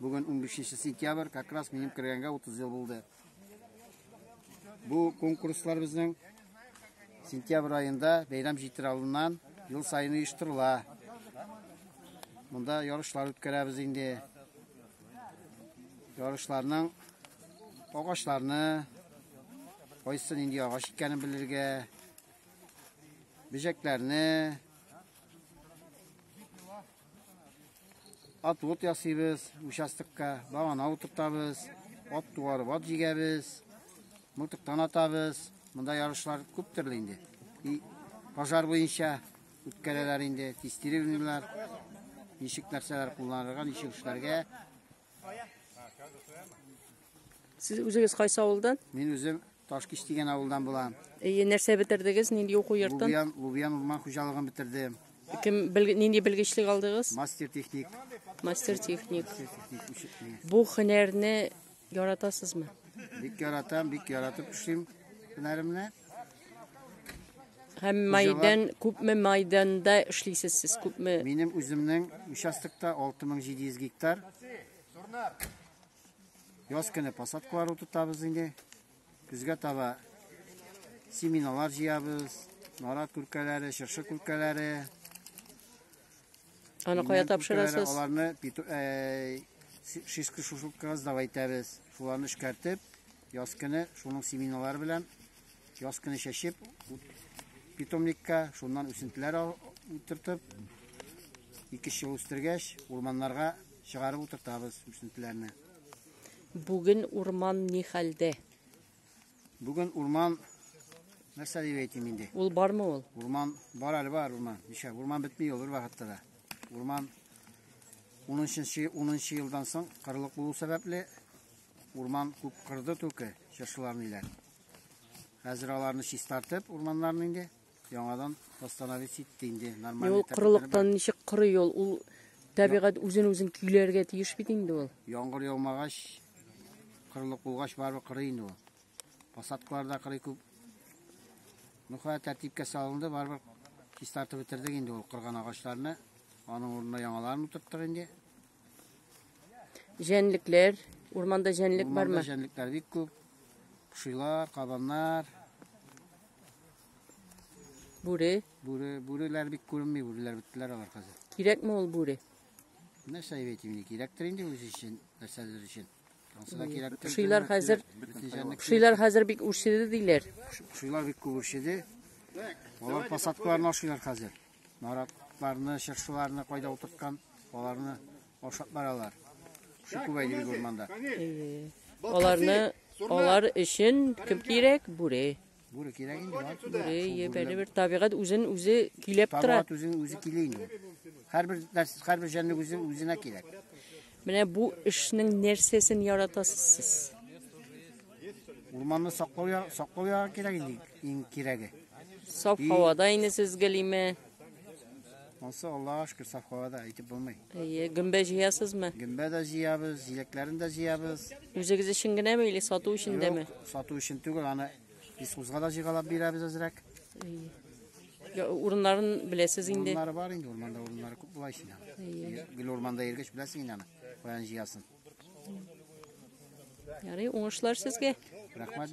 Бүген 15 сентябрь, как раз минем кергәнгә 30 ел булды. Бу конкурслар безнең сентябрь айында бәйрәм җитер алдыннан ел сайын оештырыла. Монда ярышлар үткәрәбез инде. Ярышларның агачларны кайсы нинди агач икәнен белергә, бөҗәкләрне Отвод ясыйбыз участокка, багана утыртабыз, ат туарып ат җигәбез, мылтыктан атабыз. Монда ярышлар күп төрле инде. И пожар буенча үткәрәләр инде, тестировнилар, ничек нәрсәләр кулланырга, ничек эшләргә. Сез үзегез кайсы авылдан? Мин үзем Ташкич дигән авылдан булам. Әйе, нәрсә бетердегез? Нинди уку йортын? Лубиян, Лубиян урман хуҗалыгын бетердем. Кем бел, нинди белгечлек алдыгыз? Мастер техник. Мастер техник. Бу хөнәрне яратасызмы? Бик яратам, бик яратып эшлим һөнәремне. Һәм майдан, күпме майданда эшлисез сез? Күпме? Минем үземнең участокта 6700 гектар. Яз көне посадкалар утыртабыз инде. Көзгә таба семиналар җыябыз. Нарат күркәләре, шыршы күркәләре. Аны кая тапшырасыз? Аларны э, шишкы шушылкага сдавайтабыз. Шуларны эшкәртеп, яз көне шуның семиналары белән Яз көне чәчеп, питомникка, шуннан үсентеләр утыртып, ике ел үстергәч, урманнарга чыгарып утыртабыз үсентеләрне. Бүген урман ни хәлдә? Бүген урман нәрсә дип әйтим инде? Ул бармы ул? Урман бар әле бар урман. Ничә урман бетми ул бер вакытта да. Урман 10 елдан соң кырлык булу сәбәпле Урман күп кырды түке, чыршыларны иләр. Хәзер аларны чистартып, урманнарны инде яңадан восстановить итте инде. Нормаль. Ул корылыктан ничек корый ул? Ул табигать үзен үзен көйләргә тиеш бит инде ул. Яңгыр яумагач, корылык булгач барыбер корый инде ул. Посадкаларда корый күп. Ну, хәтта тәртипкә салынды, барыбер чистартып бетердек инде ул кырган агачларны. Аның урынына яңаларын утырттык инде. Җәнлекләр, урманда җәнлек Урманда бармы? җәнлекләр бик күп. Кошилар, кабаннар, Бүре. бүре, бүреләр бик күренми, бүреләр беттеләр алар хәзер. Кирәкме ул бүре? Нәрсә дип әйтим инде, кирәктер инде үзе өчен, нәрсәдер өчен. Ансы да кирәктер. Кошилар хәзер, Бөтен җәнлек- кошилар хәзер бик үрчеде диләр. Кошилар бик күп үрчеде. Алар посадкаларны ашыйлар хәзер. Наратларны, чыршыларны кайда утырткан, аларны ашап баралар. Кеше күбәйде бит урманда. Аларны алар өчен кем кирәк? Бүре. Бүре кирәк инде. бар. Бүре ебәле бер табигать үзен үзе көйләп тора. Табат үзен үзе килә инде. Һәрбер нәрсә, һәрбер җәнлек үзен үзенә кирәк. Менә бу эшнең нәрсәсен яратасыз сез? Урманны саклау я- саклау ягы кирәк инде иң кирәге. Саф И- һавада инде сез гөлиме? Ансы Аллага шөкер саф һавада әйтеп булмый. Әйе, гөмбә җыясызмы? Гөмбә дә җыябыз, җиләкләрен дә җыябыз. Үзегез өчен генәме или сату өчен дәме? Юк, сату өчен түгел, аны Искузга да җыйгалап бирәбез әзрәк. Әйе. Урыннарын беләсез инде. Урыннары бар инде, урманда урыннары күп була исенә. Гел урманда йөргәч беләсең инде аны, каян җыясын. Ярый, уңышлар сезгә. Рәхмәт.